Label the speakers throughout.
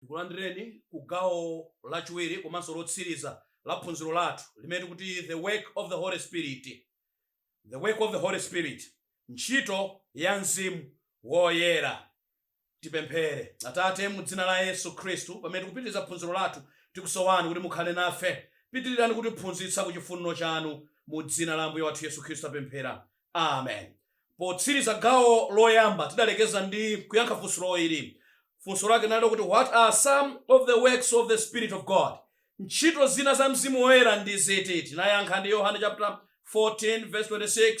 Speaker 1: tikulandireni ku gawo lachiwiri komanso lotsiriza la phunziro lathu limene tikuti the work of the holy spirit the work of the holy spirit ntchito ya mzimu woyera Tipemphere. Atate, mu dzina la Yesu Khristu, pamene tikupitiriza phunziro lathu, tikusowani kuti mukhale nafe. Pitirizani kutiphunzitsa ku chifuniro chanu. Mu dzina la Ambuye wathu Yesu Khristu tapemphera. Amen. Potsiriza gawo loyamba, tidalekeza ndi kuyankha funso ili. Funso lake linali kuti what are some of the works of the Spirit of God? Ntchito zina za Mzimu Woyera ndi ziti? Tinayankha ndi Yohane chaputala 14 vesi 26,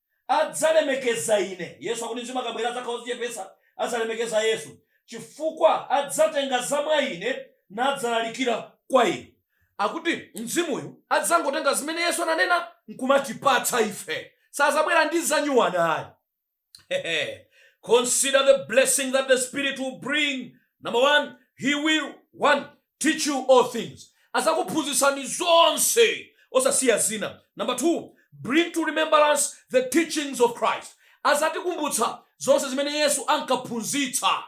Speaker 1: adzalemekeza Ine. Yesu akuti Mzimu akabwera adzakhala odzichepetsa, adzalemekeza Yesu, chifukwa adzatenga za mwa Ine nadzalalikira kwa inu. Akuti Mzimuyu adzangotenga zimene Yesu ananena nkumatipatsa ife. Sazabwera ndi zanyuwani ayi. Hehe. Consider the blessing that the Spirit will bring. Number one, He will, one, teach you all things azakuphunzitsani zonse osasiya zina number two bring to remembrance the teachings of christ azatikumbutsa zonse zimene yesu ankaphunzitsa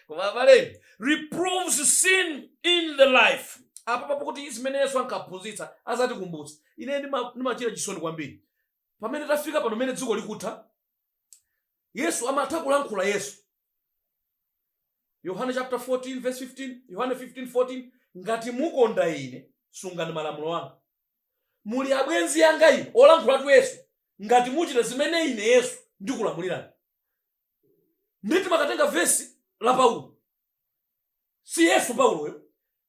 Speaker 1: koma abale reproves sin in the life apa pokuti zimene yesu ankaphunzitsa azatikumbutsa ine ndima- ndimachita chisoni kwambiri pamene tafika pano mene dziko likutha yesu amatha kulankhula yesu yohane chapter 14 verse 15 yohane 15 14 ngati mukonda ine sungani malamulo anga muli abwenzi anga ine olankhulatu yesu ngati muchita zimene ine yesu ndikulamulirani ndiye timakatenga vesi la paulo si yesu pauloyo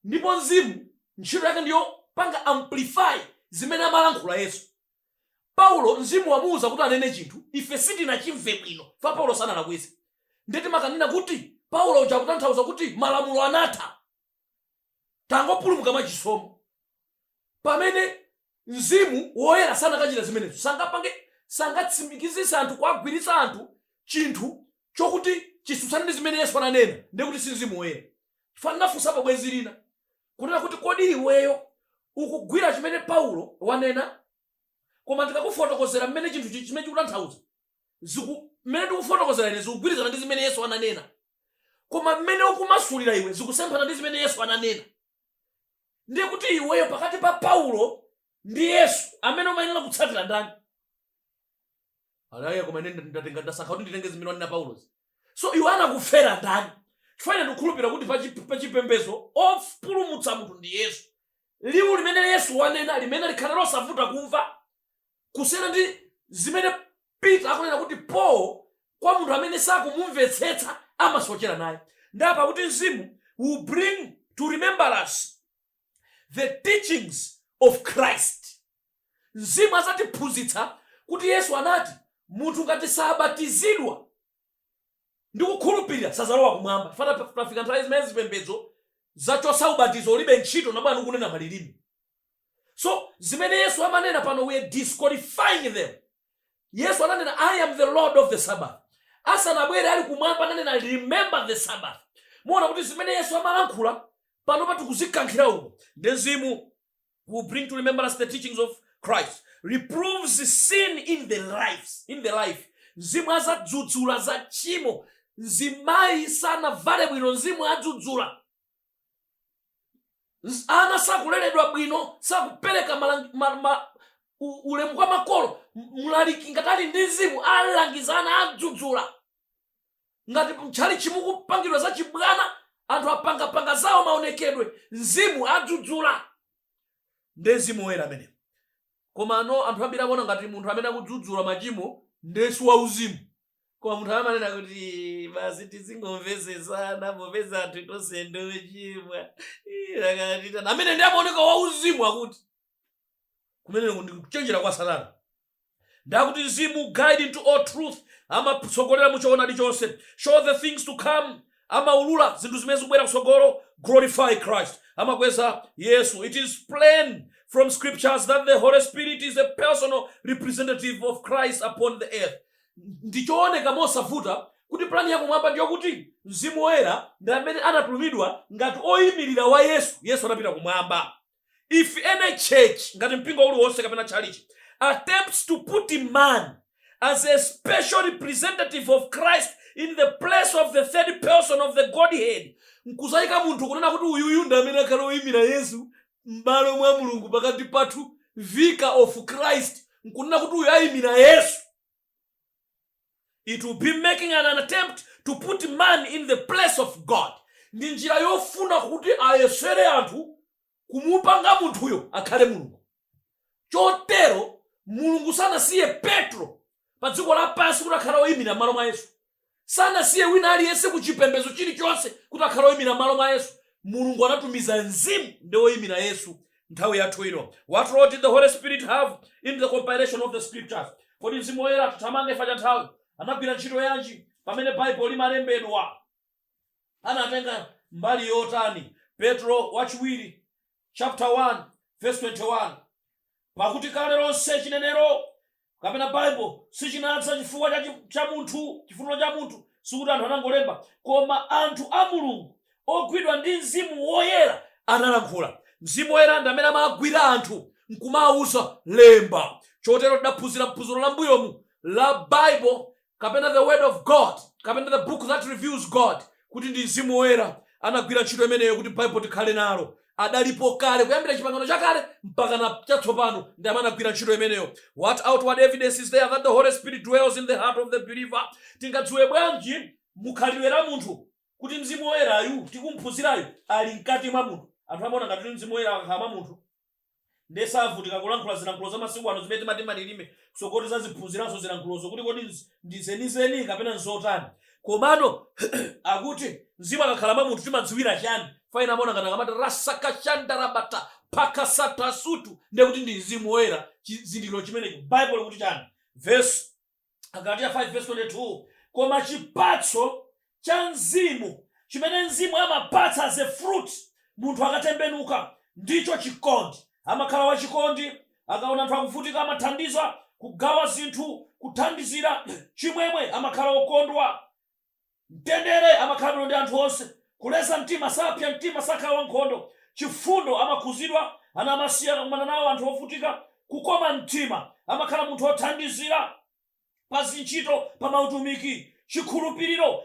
Speaker 1: ndipo mzimu ntchito yake ndi yopanga amplify zimene amalankhula yesu paulo mzimu wamuuza kuti anene chinthu ife sitinachimve bwino chifukwa paulo sanalakwise ndiye timakanena kuti paulo uja akutanthauza kuti malamulo anatha tangopulumuka mwa chisomo. Pamene, Mzimu Woyera sanakachita zimenezo, sangapange, sangatsimikizitse anthu, kuwagwiritsa anthu chinthu chokuti chisutsane ndi zimene Yesu ananena, ndiye kuti si Mzimu Woyera. Chifukwa ndinafunsapo bwenzi lina, kunena kuti, Kodi iweyo ukugwira chimene Paulo wanena? Koma ndikakufotokozera mmene chinthuchi, chimene chikutanthauza. ziku mmene ndikufotokozera ine zikugwirizana ndi zimene yesu ananena koma mmene ukumasulira iwe zikusemphana ndi zimene yesu ananena ndiye kuti iweyo pakati pa paulo ndi yesu amene umayenera kutsatira ndani ati ayi koma ine ndatenga ndasankha kuti nditenge zimene wanena paulozi so iwe anakufera ndani chifukwa ine ndikukhulupirira kuti pachi- pachipembedzo opulumutsa munthu ndi yesu liwu limene Yesu wanena, limene likhale losavuta kumva kusiyana ndi zimene Peter akunena kuti Paul kwa munthu amene sakumumvetsetsa amasochera naye nde apa akuti mzimu will bring to remembrance the teachings of Christ mzimu azatiphunzitsa kuti Yesu anati munthu ngati sabatizidwa ndikukhulupilira sazalowa kumwamba chifukwa taf- tafika nthawi zimene zipembedzo zachotsa ubatizo ulibe ntchito nabwera nkunena malilime so zimene yesu amanena pano we are disqualifying them yesu ananena i am the lord of the sabbath asanabwere ali kumwamba ananena remember the sabbath muona kuti zimene yesu amalankhula panopa tikuzikankhira uko nde mzimu will bring to remembrance the teachings of Christ, reproves sin in the life. Mzimu azadzudzula za tchimo, mzimayi sanavale bwino, mzimu adzudzula. Ana sakuleredwa bwino, sakupereka ulemu kwa makolo. Mlaliki ngati ali ndi mzimu, alangiza ana adzudzula. ngati mtchalitchi mukupangidwa za chibwana anthu apangapanga zawo maonekedwe mzimu adzudzula nde mzimu woyera ameneyo komano anthu ambiri akuona ngati munthu amene akudzudzula machimo ndesi wauzimu koma munthu amene amanena kuti basi tizingomvetsetsana popeza anthu tonse ndochimwa ameneyo nde amaoneka wauzimu akuti kumeneko ndi kuchenjera kwa satana nde akuti mzimu guide into all truth amatsogolera mu choonadi chonse show the things to come amaulula zinthu zimene zikubwera kutsogolo glorify christ amakweza yesu it is plain from scriptures that the holy spirit is a personal representative of christ upon the earth ndichooneka mosavuta kuti plani yakumwamba ndiyokuti mzimu woyera ndi amene anatumidwa ngati oyimirira wa yesu yesu anapita kumwamba if any church ngati mpingo uliwonse kapena tchalichi attempts to put man as a special representative of christ in the place of the third person of the godhead nkudzaika munthu kunena kuti uyuyu ndi amene akhale oyimira yesu m'malo mwa mulungu pakati pathu vicar of christ nkunena kuti uyu ayimira yesu it will be making an attempt to put man in the place of god ndi njira yofuna kuti ayesere anthu kumupanga munthuyo akhale mulungu chotero mulungu sanasiye petro pa dziko lapansi kuti akhale oyimira m'malo mwa yesu sanasiye wina aliyense ku chipembezo chili chonse kuti akhale oyimira m'malo mwa yesu mulungu anatumiza mzimu ndi oyimira yesu nthawi yathu ino what role did the holy spirit have in the compilation of the scriptures kodi mzimu woyera tithamange chifukwa cha nthawi anagwira ntchito yanji pamene baibulo limalembedwa anatenga mbali yotani petro wachiwiri chaputala 1 vesi 21 Pakuti kale lonse chinenero, kapena Baibulo, sichinadza ndi chifu cha munthu, chifuniro cha munthu, sikuti anthu anangolemba, koma anthu a Mulungu, ogwidwa ndi Mzimu Woyera, analankhula. Mzimu Woyera ndi amene amagwira anthu nkumawauza lemba. Chotero tidaphunzira m'phunziro la m'mbuyomu la Baibulo kapena the word of God kapena the book that reveals God kuti ndi mzimu woyera anagwira ntchito imeneyo kuti Baibulo tikhale nalo adalipo kale kuyambira chipangano chakale mpaka na chatsopano ndi amene anagwira ntchito imeneyo what outward evidence is there that the holy spirit dwells in the heart of the believer tingadziwe bwanji mukhalidwe la munthu kuti mzimu woyerayu tikumphunzirayu ali mkati mwa munthu anthu amaona ngati kuti mzimu woyera akakhala mwa munthu nde savutika kulankhula zilankhulo za masiku ano zimene timati malilime tsogolo tizaziphunziranso zilankhulozo kuti kodi ndi zenizeni kapena nzotani komano akuti mzimu akakhala mwa munthu timadziwira chani pa ena amaona ngati akamati rasakashandarabata pakasatasutu nde kuti ndi mzimu woyera chizindikiro chimenecho Baibulo likuti chani verse agalatiya 5 verse 22 koma chipatso cha mzimu chimene mzimu amapatsa as a fruit munthu akatembenuka ndicho chikondi amakhala wachikondi akaona anthu akuvutika amathandiza kugawa zinthu kuthandizira chimwemwe amakhala okondwa Mtendere amakhala bwino ndi anthu onse, kuleza mtima, sapsya mtima, sakhala wankhondo, chifundo, amakhuzidwa ana amasiye akakumana nawo, anthu ovutika, kukoma mtima, amakhala munthu othandizira pa zintchito, pa mautumiki, chikhulupiriro,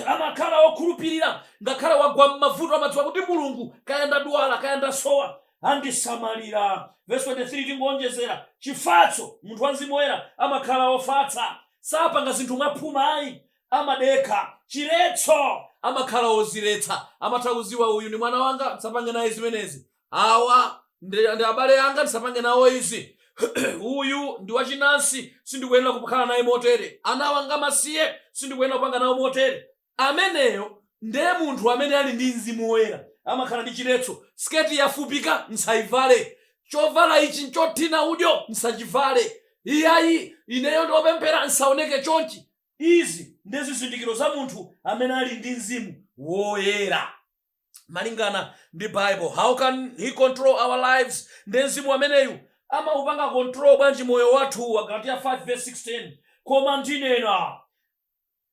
Speaker 1: amakhala okhulupirira ngakhale wagwa m'mavuto, amadziwa kuti Mulungu, kaya ndadwala, kaya ndasowa, andisamalira. Vesi 23, Tingoonjezera chifatso. Munthu wa mzimu woyera amakhala wofatsa. Sapanga zinthu mwaphuma ayi. Amadekha. Chiletso. Amakhala wodziletsa. Amatha kudziwa uyu ndi mwana wanga, ndisapange naye zimenezi. Awa ndi abale anga, ndisapange nawo izi. Uyu ndi wachinansi, sindikuyenera kukhala naye motere. Anawa nga amasiye, sindikuyenera kupanga nawo motere. Ameneyo nde munthu amene ali ndi mzimu woyera amakhala ndi chiletso. Siketi yafupika nsaivale. Chovala ichi nchothina udyo nsachivale. Iyayi, ineyo ndi opemphera nsaoneke chonchi. Izi ndi zizindikiro za munthu amene ali ndi mzimu woyera. Malingana ndi Bible, how can he control our lives? Nde mzimu ameneyu amaupanga control bwanji moyo wathu? Agalatiya 5 vs 16 Koma ndinena.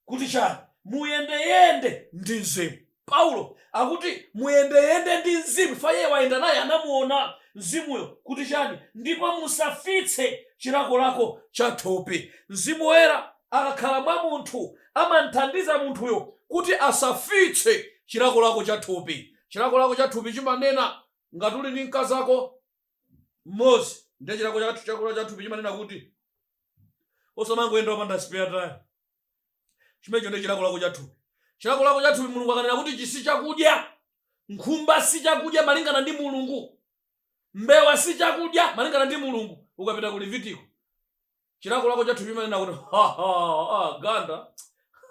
Speaker 1: kuti chani? Muyendeyende ndi Mzimu. Paulo akuti muyendeyende ndi Mzimu chifukwa iye wayenda naye, anamuona Mzimuyo kuti chani? Ndipo musafitse chilakolako cha thupi. Mzimu Woyera akakhala mwa munthu amamthandiza munthuyo kuti asafitse chilakolako cha thupi. Chilakolako cha thupi chimanena, ngati uli ndi mkazako mmodzi ndiye chilakolako cha thupi chimanena kuti osamangoyenda opanda spare tire chimenecho ndiye chilakolako cha thupi chilakolako cha thupi mulungu akanena kuti ichi si chakudya nkhumba si chakudya malingana ndi mulungu mbewa si chakudya malingana ndi mulungu ukapita ku levitiko Chilakolako cha thupi chimanena kuti, Ha, ha, ha, ganda,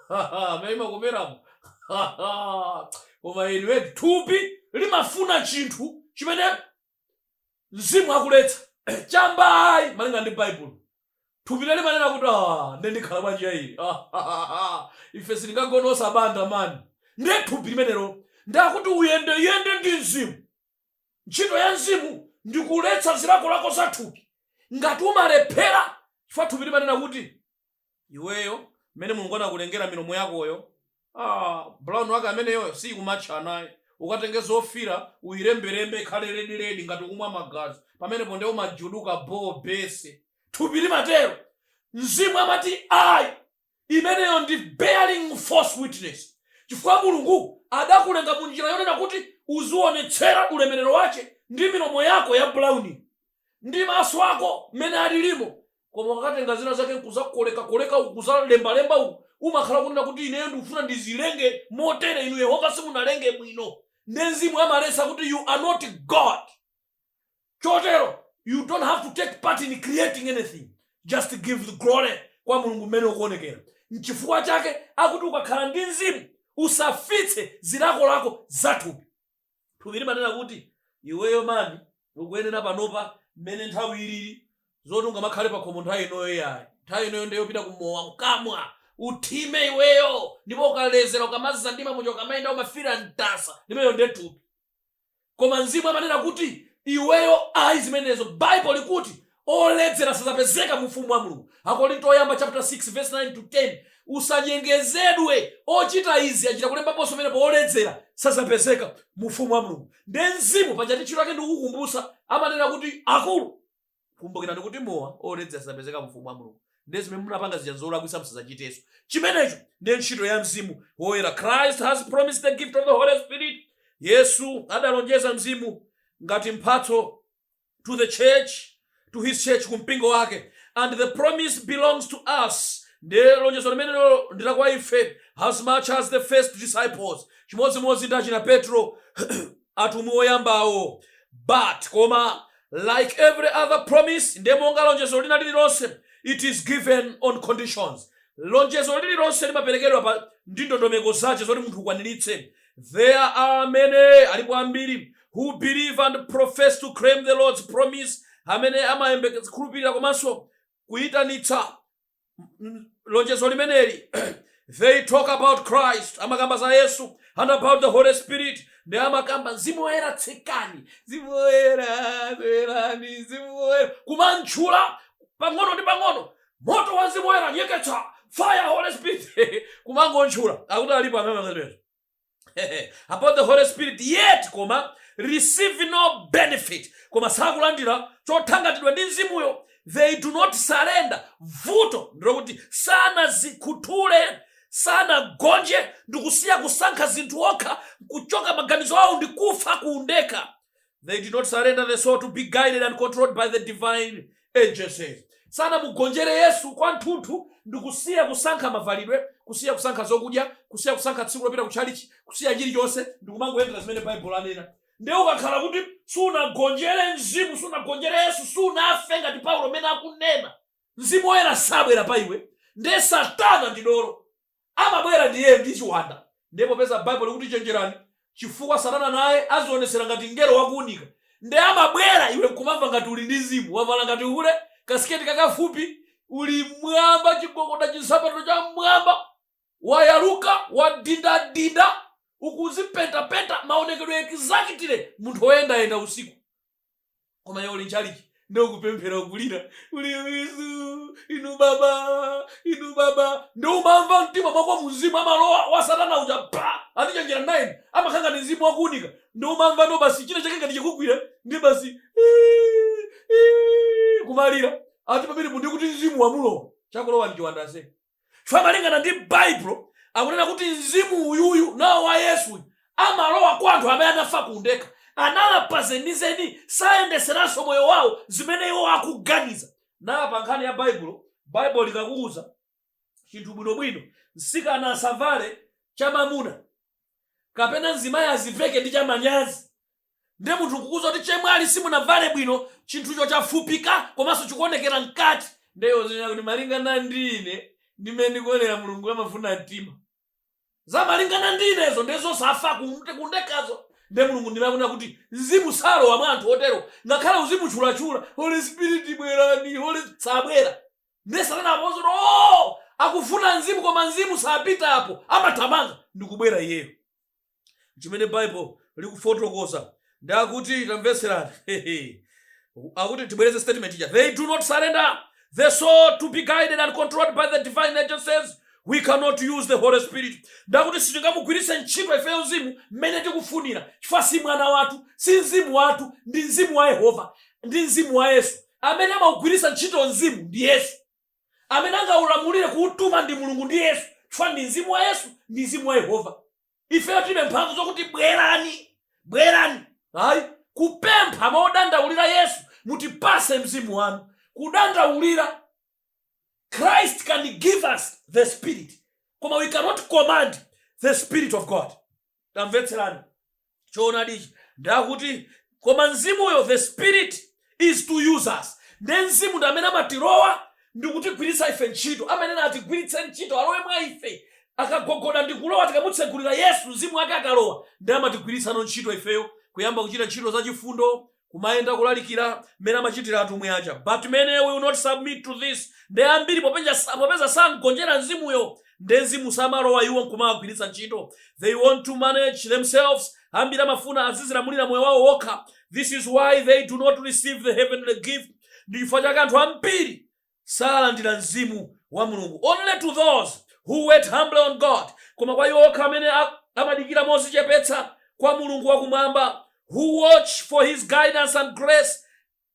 Speaker 1: ha, ha, mmene imakomeramo, ha, ha, koma inu eti. Thupi limafuna chinthu chimene Mzimu akuletsa. Chamba ayi, malingana ndi Baibulo. Thupilo limanena kuti, Ha, ndiye ndikhala bwanji ya ili? Ha, ha, ha, ha, ife sitingagone osabanda, man. Ndiye thupi limenelo ndiye akuti uyendeyende ndi Mzimu. Ntchito ya Mzimu ndi kuletsa zilakolako za thupi. Ngati umalephera chifukwa thupi limanena kuti, Iweyo, mmene Mulungu anakulengera milomo yakoyo, ah, brown wake ameneyoyo siyikumatcha naye. Ukatenge zofiira uyilembelembe ikhale red red ngati ukumwa magazi. Pamenepo ndiye umajuduka bhobhese. Thupi limatero. Mzimu amati, Ayi! Imeneyo ndi bearing false witness, chifukwa Mulungu adakulenga mu njira yonena kuti uziwonetsera ulemerero wache ndi milomo yako ya brown'yo, ndi maso ako m'mene alirimo, koma ukatenga zina zake nkuzakoleka koleka uku, kuzalemba lemba uku, umakhala ukunena kuti ineyo ndikufuna ndizilenge motere, inu Yehova simunalenge bwino, nde Mzimu amaletsa kuti you are not God. chotero you don't have to take part in creating anything just give the glory kwa mulungu mmene ukuonekera nchifukwa chake akuti ukakhala ndi mzimu usafitse zilakolako zathupi thupi limanena kuti iweyo mani ukuyenera panopa mmene nthawi ilili zoti ungamakhale pakhomo nthawi inoyo yayi nthawi inoyo ndi yopita kumowa nkamwa uthime iweyo ndipo ukalezera ukamadzandima muja ukamayenda umafira mtasa imeneyo ndiye thupi koma mzimu amanena kuti iweyo ayi zimenezo bible likuti oledzera sazapezeka mu ufumu wa mulungu akorinto oyamba chapter 6 verse 9 to 10 usanyengezedwe ochita izi achita kulembaponso pamenepo oledzera sazapezeka mu ufumu wa mulungu nde mzimu pachati ntchito yake ndikukukumbutsa amanena kuti akulu kumbukirani kuti mowa oledzera sadzapezeka mu ufumu wa mulungu ndiye zimene munapanga zija zolakwitsa musadzachitenso chimenecho ndi ntchito ya mzimu woyera christ has promised the gift of the holy spirit yesu adalonjeza mzimu ngati mphatso to the church to his church ku mpingo wake and the promise belongs to us ndiye lonjezo limenelo ndi la kwa ife as much as the first disciples chimodzimodzi ndi achina petro atumwi oyambawo but koma like every other promise ndiye monga lonjezo lina lililonse it is given on conditions lonjezo lililonse limaperekedwa pa ndi ndondomeko zache zoti munthu ukwaniritse there are many alipo ambiri who believe and profess to claim the lord's promise amene amayembekeza khulupirira komanso kuyitanitsa lonjezo limeneli they talk about christ amakamba za yesu and about the holy spirit nde amakamba mzimu woyera tsikani mzimu woyera bwerani mzimu woyera kumantchula pang'ono ndi pang'ono moto wa mzimu woyera nyeketsa fire holy spirit kumangontchula akuti alipo amene about the holy spirit yet koma receive no benefit koma sakulandira chothangatidwa ndi mzimuyo they do not surrender vuto ndilokuti sanazikhuthule sanagonje ndikusiya kusankha zinthu okha kuchoka maganizo awo ndikufa ku undekha they did not surrender the soul to be guided and controlled by the divine agencies sanamugonjere yesu kwanthunthu ndi kusiya kusankha mavalidwe kusiya kusankha zokudya kusiya kusankha tsiku lopita kutchalichi kusiya chilichonse ndi kumangoyendera zimene baibulo anena ndiye ukakhala kuti sunagonjere mzimu sunagonjere yesu sunafe ngati paulo mmene akunena mzimu woyera sabwera pa iwe ndiye satana ndi dolo amabwera ndi iye ndi chiwanda. Ndiye popeza baibulo likuti chenjerani chifukwa satana naye azionetsera ngati mngelo wa kuunika nde amabwera iwe nkumamva ngati uli ndi mzimu wavala ngati hule kasiketi kakafupi uli mwamba chigogoda chinsapato cha mmwamba wayaluka wadindadinda ukuzipentapenta maonekedwe exactly munthu oyendayenda usiku koma iwe uli nchalichi nde ukupemphera ukulira uli yesu inu baba inu baba ndo umamva mtima mwako mzimu amalowa wa satana uja pa ati chenjera naye amakhala ngati mzimu wakuunika ndo umamva ndo basi china chake ngati chikugwira ndi basi "Ii, ii," kumalira ati pamenepo ndi kuti mzimu wamulowa chakulowa ndi chiwanda ase chifukwa malingana ndi baibulo akunena kuti mzimu uyuyu nawo wa yesu amalowa kwa anthu amene anafa ku undekha analapa zenizeni sayendeseranso moyo wawo zimene iwo akuganiza nala pa nkhani ya baibulo baibulo likakuuza chinthu bwinobwino msikana asavale chamamuna kapena mzimayi aziveke ndi chamanyazi nde munthu nkukuuza kuti chemwali simunavale bwino chinthucho chafupika komanso chikuonekera mkati ndiye uzinena kuti malingana ndi ine ndimene ndikuonera mulungu amafuna mtima za malingana ndi inezo nde zosafa kunde- kundekazo nde mulungu ndi amakunena kuti mzimu salowa mwa anthu otero ngakhale uzimutchulachula holy spirit bwerani holy sabwera nde satana apozo kuti oh akufuna mzimu koma mzimu sapita apo amathamanga ndikubwera iyeyo chimene bible likufotokoza ndi akuti tamvetserani Hehe. akuti tibwereze statement ija they do not surrender the soul to be guided and controlled by the divine agencies we cannot use the holy spirit ndakuti sitingamugwiritse ntchito ifeyo mzimu mmene tikufunira chifukwa si mwana wathu si mzimu wathu ndi mzimu wa yehova ndi mzimu wa yesu amene amagwiritsa ntchito mzimu ndi yesu amene angaulamulire kuutuma ndi mulungu ndi yesu chifukwa ndi mzimu wa yesu ndi mzimu wa yehova ifeyo tilibe mphamvu zokuti bwerani bwerani ayi kupempha modandaulira yesu mutipase mzimu wanu kudandaulira christ can give us the spirit koma we cannot command the spirit of god Tamvetserani choonadi ichi, ndakuti koma mzimuyo, the spirit is to use us, nde mzimu ndi amene amatirowa ndikutigwiritsa ife ntchito, amene atigwiritse ntchito, alowe mwa ife, akagogoda ndikulowa, tikamutsegulira Yesu, mzimu wake akalowa, nde amatigwiritsano ntchito ifeyo, kuyamba kuchita ntchito zachifundo, kumayenda kulalikira mmene amachitira atumwi aja but many will not submit to this nde ambiri popeza sangonjera mzimuyo nde mzimu samalowa iwo nkumawagwiritsa ntchito they want to manage themselves ambiri amafuna azizilamulira moyo wawo wokha this is why they do not receive the heavenly gift ndi chifukwa chake anthu ambiri salandira Mzimu wa Mulungu only to those who wait humbly on God koma kwa iwo okha amene a, amadikira mozichepetsa kwa Mulungu wa kumwamba who watch for his guidance and grace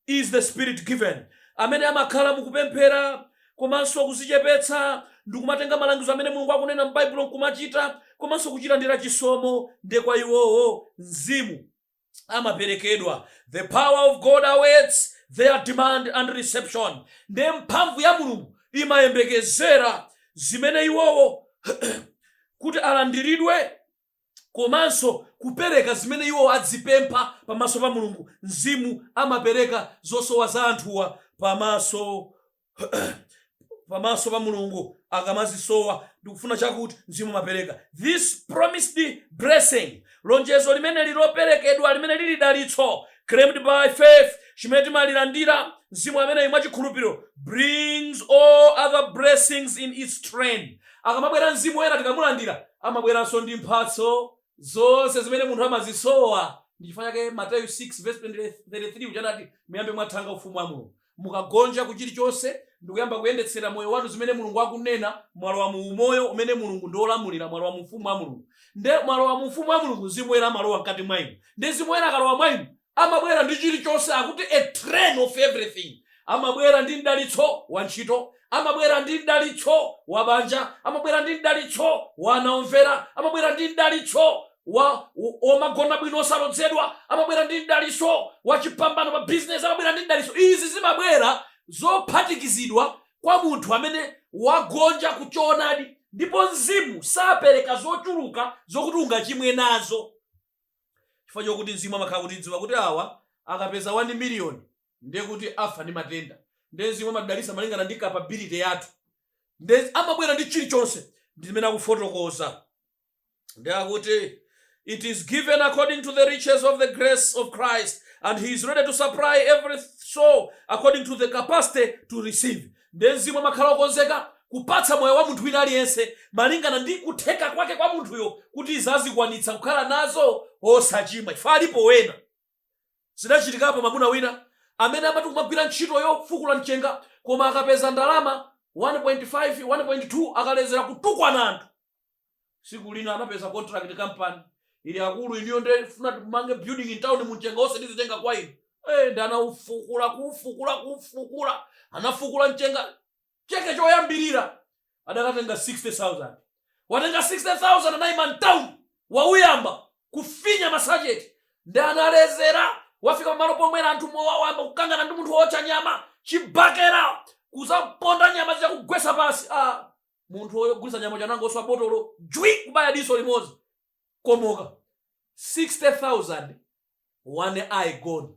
Speaker 1: is the spirit given amene amakhala mukupemphera komanso kuzichepetsa ndikumatenga malangizo amene Mulungu akunena m'Baibulo nkumachita komanso kuchilandira chisomo nde kwa iwowo mzimu amaperekedwa the power of god awaits their demand and reception nde mphamvu ya mulungu imayembekezera zimene iwowo kuti alandiridwe komanso kupereka zimene iwo adzipempha pamaso pa mulungu mzimu amapereka zosowa za anthuwa pamaso pamaso pa mulungu akamazisowa ndikufuna chakuti mzimu amapereka this promised blessing lonjezo limene liloperekedwa limene lili dalitso claimed by faith chimene timalilandira mzimu ameneyi mwa chikhulupiriro brings all other blessings in its train akamabwera mzimu woyera tikamulandira amabweranso ndi mphatso zonse zimene munthu amazisowa ndi chifukwa chake mateyu 6 33 uja anati muyambe mwathanga ufumu wa mulungu Mukagonja ku chilichonse ndikuyamba kuyendetsera moyo wanu zimene Mulungu akunena, mwalowa mu umoyo umene Mulungu ndi olamulira, mwalowa mu ufumu wa Mulungu. Nde mwalowa mu ufumu wa Mulungu Mzimu Woyera amalowa mkati mwa inu. Nde Mzimu Woyera akalowa mwa inu amabwera ndi chilichonse akuti a train of everything. Amabwera ndi mdalitso wa ntchito, amabwera ndi mdalitso wa banja, amabwera ndi mdalitso wa ana omvera, amabwera ndi mdalitso wa magona bwino osalodzedwa amabwera ndi mdaliso wachipambano pa bizinesi amabwera ndi mdaliso izi zimabwera zophatikizidwa kwa munthu amene wagonja ku choonadi ndipo mzimu sapereka zochuluka zokuti ungachimwe nazo chifukwa chokuti mzimu amakhala akudziwa kuti awa akapeza 1 miliyoni ndiye kuti afa ndi matenda ndiye mzimu amadalisa malingana ndi capability yathu ndiye amabwera ndi chilichonse ndimene akufotokoza nde akuti it is given according to the riches of the grace of christ and he is ready to supply every soul according to the capacity to receive nde mzimu amakhala okonzeka kupatsa moyo wa munthu wina aliyense malingana ndi kutheka kwake kwa munthuyo kuti izi azikwanitsa kukhala nazo osachimwa chifukwa alipo wena zidachitikapo mwamuna wina amene amati kumagwira ntchito yofukula mchenga koma akapeza ndalama 1.5 1.2 akalezera kutukwana anthu siku lina anapeza contract company ili akulu iniyo ndifuna timange building in town mchenga onse ndizitenga kwa inu hey, nde anaufukula kuufukula kuufukula anafukula mchenga cheke choyambirira adakatenga 60000 watenga 60000 anayima mtown wauyamba kufinya masacheti nde analezera wafika pamalo pomwera anthu mowa wayamba kukangana ndi munthu wootcha nyama chibakera kuzaponda nyama zija kugwesa pasi ah, munthu ogulitsa nyama uja anangoswa botolo jwi kubaya diso limodzi komoka 60000 one eye gone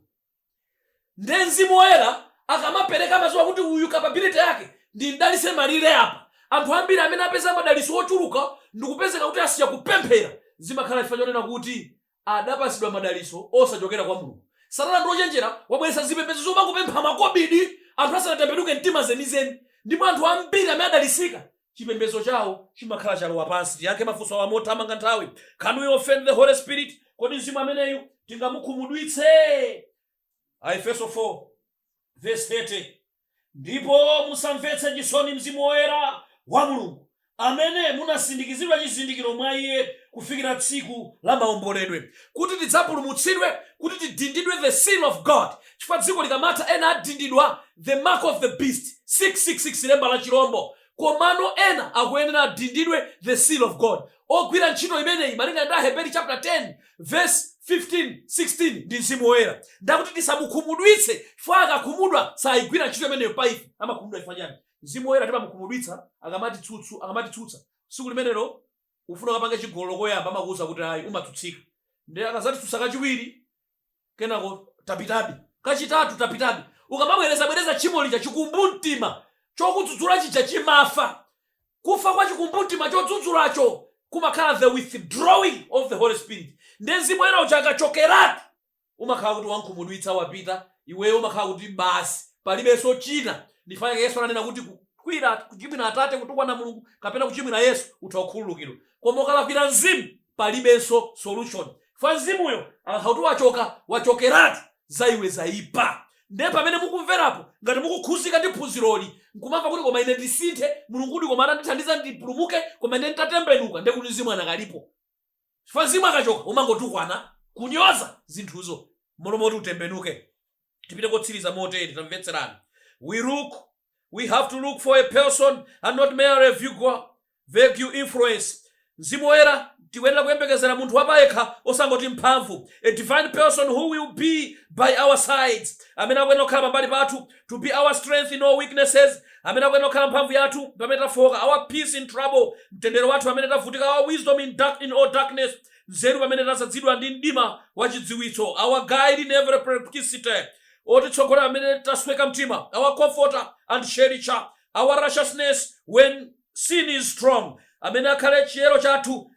Speaker 1: nde mzimu woyera akamapereka amaziwa kuti uyu capability yake ndimdalise malire apa anthu ambiri amene apeza madaliso ochuluka ndikupezeka kuti asiya kupemphera zimakhala chifukwa chonena kuti adapatsidwa madalitso osachokera kwa Mulungu. Satana ndi ochenjera, wabweretsa zipembedzo zomangopempha makobidi anthu asanatembenuke mtima zenizeni, ndipo anthu ambiri amene adalitsika, chipembedzo chawo chimakhala chalowa pansi. Tiyankhe mafunso awa mothamanga nthawi, Can we offend the Holy Spirit? Kodi Mzimu ameneyi tingamukhumudwitse? Aefeso 4. vesi 30 ndipo musamvetse chisoni mzimu woyera wa mulungu amene munasindikizidwa chizindikiro mwa iye kufikira tsiku la maomboledwe kuti tidzapulumutsidwe kuti tidindidwe the seal of god chifukwa dziko likamatha ena adindidwa the mark of the beast 666 lemba la chirombo komano ena akuyenera adindidwe the seal of god Ogwira ntchito imeneyi malinga ndi Aheberi chaputala 10 vesi 15, 16 ndi Mzimu Woyera. Ndakuti tisamukhumudwitse chifukwa akakhumudwa saigwira ntchito imeneyo pa ife. Amakhumudwa chifukwa chani? Mzimu Woyera timamukhumudwitsa akamatitsutsa. Tsiku limenelo ufuna ukapange chigololo koyamba amakuuza kuti ayi umatsutsika. Ndiye akazatitsutsa kachiwiri kenako tapitabe kachitatu tapitabe ukamabwerezabwereza tchimo lija chikumbumtima chokudzudzula chija chimafa kufa kwa chikumbumtima chodzudzulacho kumakhala the withdrawing of the holy spirit ndi mzimu woyera uja akachokeratu umakhala kuti wankhumudwitsa wapita iweyo umakhala kuti basi palibenso china ndi chifukwa chake yesu ananena kuti kukwira kuchimwira atate kutukwana mulungu kapena kuchimwira yesu utha kukhululukidwa koma ukalakwira mzimu palibenso solution chifukwa mzimuyo akakhala kuti wachoka wachokeratu za iwe zaipa nde pamene mukumverapo ngati mukukhuzika ndi phunziroli nkumamva kuti koma ine ndisinthe mulungudi koma atandithandiza ndipulumuke koma ine nditatembenuka nde kuti mzimu anakalipo chifukwa mzimu akachoka umangotukwana kunyoza zinthuzo m'malo moti utembenuke tipite kotsiriza motere tamvetserani we look we have to look for a person and not merely a vague, vague influence mzimu woyera tikuyenera kuyembekezera munthu wapayekha osangoti mphamvu a divine person who will be by our sides amene akuyenera kukhala pambali pathu to be our strength in all weaknesses amene akuyenera kukhala mphamvu yathu pamene tafooka our peace in trouble mtendere wathu pamene tavutika our wisdom in, dark, in all darkness nzeru pamene tadzazidwa ndi mdima wa chidziwitso, our guide in every perplexity, otitsogolera pamene tasweka mtima, our comforter and cherisher, our righteousness when sin is strong, amene akhale chiyero chathu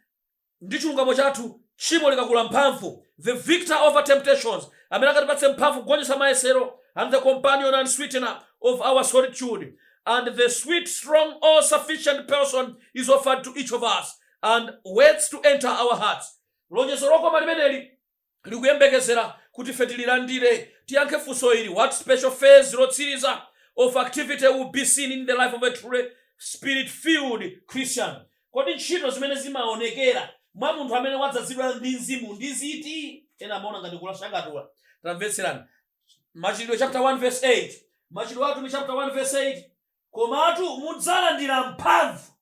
Speaker 1: ndi chilungamo chathu tchimo likakula mphamvu, the victor over temptations, amene akatipatse mphamvu kugonjetsa mayesero, and the companion and sweetener of our solitude, and the sweet, strong, all-sufficient person is offered to each of us. and waits to enter our hearts. Lonjezo lokoma limeneli likuyembekezera kuti ife tililandire. Tiyankhe funso ili, what special phase lotsiriza of activity will be seen in the life of a truly spirit-filled Christian? Kodi ntchito zimene zimaonekera mwa munthu amene wadzazidwa ndi mzimu ndi ziti? Ena amaona ngati kulashakatula. Tamvetserani. Machitidwe chapter 1 verse 8. Machitidwe a Atumwi chapter 1 verse 8. Komatu mudzalandira mphamvu,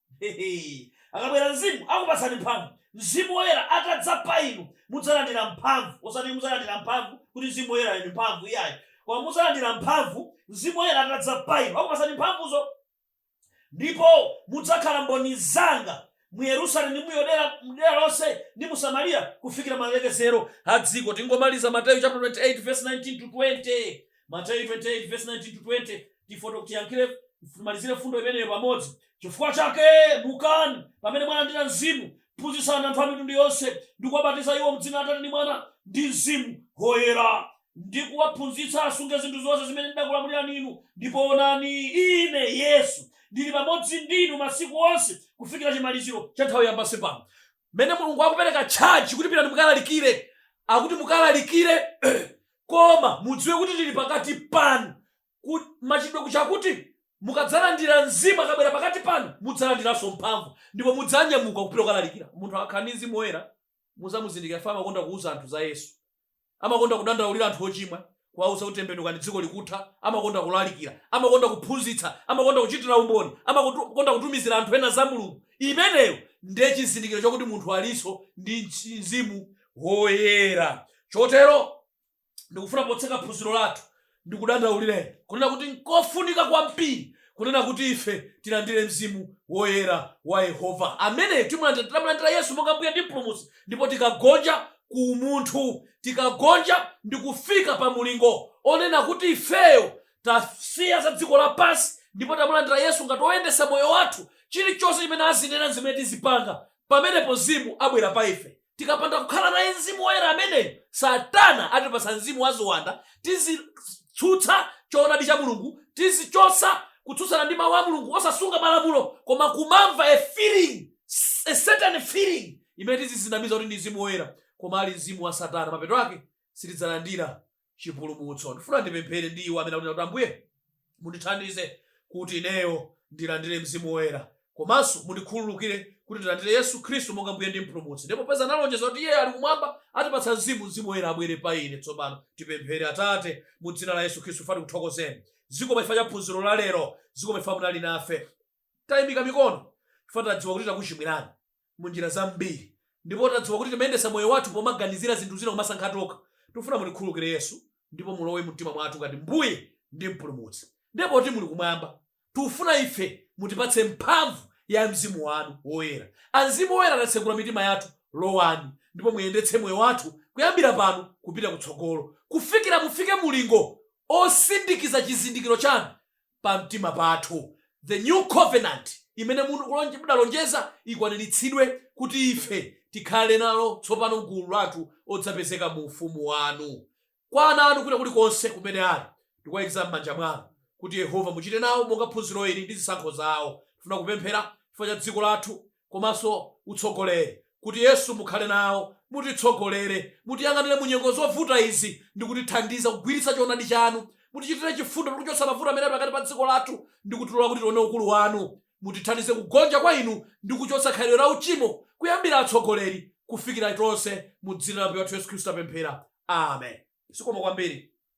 Speaker 1: akabwera Mzimu akupatsani mphamvu, Mzimu Woyera atadza pa inu, mudzalandira mphamvu, osati mudzalandira mphamvu kuti Mzimu Woyera ndi mphamvu iyayi, koma mudzalandira mphamvu Mzimu Woyera atadza pa inu, akupatsani mphamvuzo, ndipo mudzakhala mboni zanga mu Yerusalemu ndi mu Yudea dera lonse ndi mu Samariya kufikira malekezero a dziko. Tingomaliza Mateyu chapter 28 verse 19 to 20. Mateyu 28 verse 19 to 20 tifuna tiyankhire timalizire mfundo imeneyo pamodzi. Chifukwa chake mukani pamene mwalandira mzimu, phunzitsani anthu a mitundu yonse ndi kuwabatiza iwo m'dzina la Atate ndi Mwana ndi Mzimu Woyera. ndi kuwaphunzitsa asunge zinthu zonse zimene ndidakulamulirani inu, ndipo onani, ine, Yesu, ndili pamodzi ndi inu masiku onse, kufikira chimaliziro cha nthawi ya pansi pano. Mmene Mulungu akupereka charge kuti pitani mukalalikire, akuti mukalalikire koma mudziwe kuti ndili pakati panu, ku machitidwe kuja akuti mukadzalandira Mzimu akabwera pakati panu, mudzalandiranso mphamvu, ndipo mudzanyamuka kupita kukalalikira. Munthu akakhala ndi Mzimu Woyera, mudzamuzindikira chifukwa amakonda kuuza anthu za Yesu. Amakonda kudandaulira anthu ochimwa, kuwauza kuti tembenukani dziko likutha, amakonda kulalikira, amakonda kuphunzitsa, amakonda kuchitira umboni, amakonda kutumizira anthu ena za Mulungu. Imeneyo ndiye chizindikiro chakuti munthu alinso ndi Mzimu Woyera. Chotero ndikufuna potseka phunziro lathu ndikudandaulireni kunena kuti nkofunika kwambiri kunena kuti ife tilandire Mzimu Woyera wa Yehova. Ameneyo timulandira titamulandira Yesu monga Mbuye ndi Mpulumutsi ndipo tikagonja ku umunthu, tikagonja ndi kufika pa mulingo onena kuti ifeyo tasiya za dziko lapansi ndipo tamulandira Yesu ngati woyendetsa moyo wathu, chilichonse chimene azinena nzimene tizipanga, pamenepo Mzimu abwera pa ife. Tikapanda kukhala naye Mzimu Woyera ameneyu, Satana atipatsa mzimu wa ziwanda, tizitsutsa choonadi cha Mulungu, tizichotsa kutsutsana ndi mawu a Mulungu, osasunga malamulo, koma kumamva a feeling, a certain feeling imene tizizinamiza kuti ndi Mzimu Woyera, koma ali mzimu wa Satana. Mapeto ake sitidzalandira chipulumutso ndifuna ndipemphere ndi iwo amene akuti ambuye mundithandize kuti ineyo ndilandire mzimu woyera komanso mundikhululukire kuti ndilandire yesu khristu monga mbuye ndi mpulumutsi ndipo popeza analonjeza kuti iye ali kumwamba atipatsa mzimu mzimu woyera abwere pa ine tsopano tipemphere atate mu dzina la yesu khristu tifuna tikuthokozeni zikomo chifukwa cha phunziro la lero zikomo chifukwa munali nafe tayimika mikono chifukwa tadziwa kuti takuchimwirani mu njira zambiri ndipo tadziwa kuti timayendetsa moyo wathu pomaganizira zinthu zina kumasankha tokha tifuna mutikhululukire yesu ndipo mulowe mumtima mwathu ngati mbuye ndi mpulumutsi ndipo poti muli kumwamba tifuna ife mutipatse mphamvu ya mzimu wanu woyera amzimu woyera tatsegula mitima yathu lowani ndipo muyendetse moyo wathu kuyambira pano kupita kutsogolo kufikira mufike mulingo osindikiza chizindikiro chanu pamtima pathu. The new covenant imene inu mudalonjeza ikwaniritsidwe kuti ife tikhale nalo tsopano m'gulu lathu odzapezeka mu ufumu wanu. Kwa ana anu kwina kulikonse kumene ali, tikuwaikiza m'manja mwanu. Kuti Yehova muchite nawo monga phunziro ili ndi zisankho zawo. Tifuna kupemphera chifukwa cha dziko lathu komanso utsogoleri kuti Yesu mukhale nawo mutitsogolere mutiyang'anire mu nyengo zovuta izi ndi kutithandiza kugwiritsa choonadi chanu mutichitire chifundo ndi kuchotsa mavuto amene ali pakati pa dziko lathu ndi kutilola kuti tione ukulu wanu mutithandize kugonja kwa inu ndi kuchotsa khalidwe la uchimo kuyambira atsogoleri kufikira tonse mu dzina la Ambuye wathu Yesu Khristu tapemphera amen zikomo kwambiri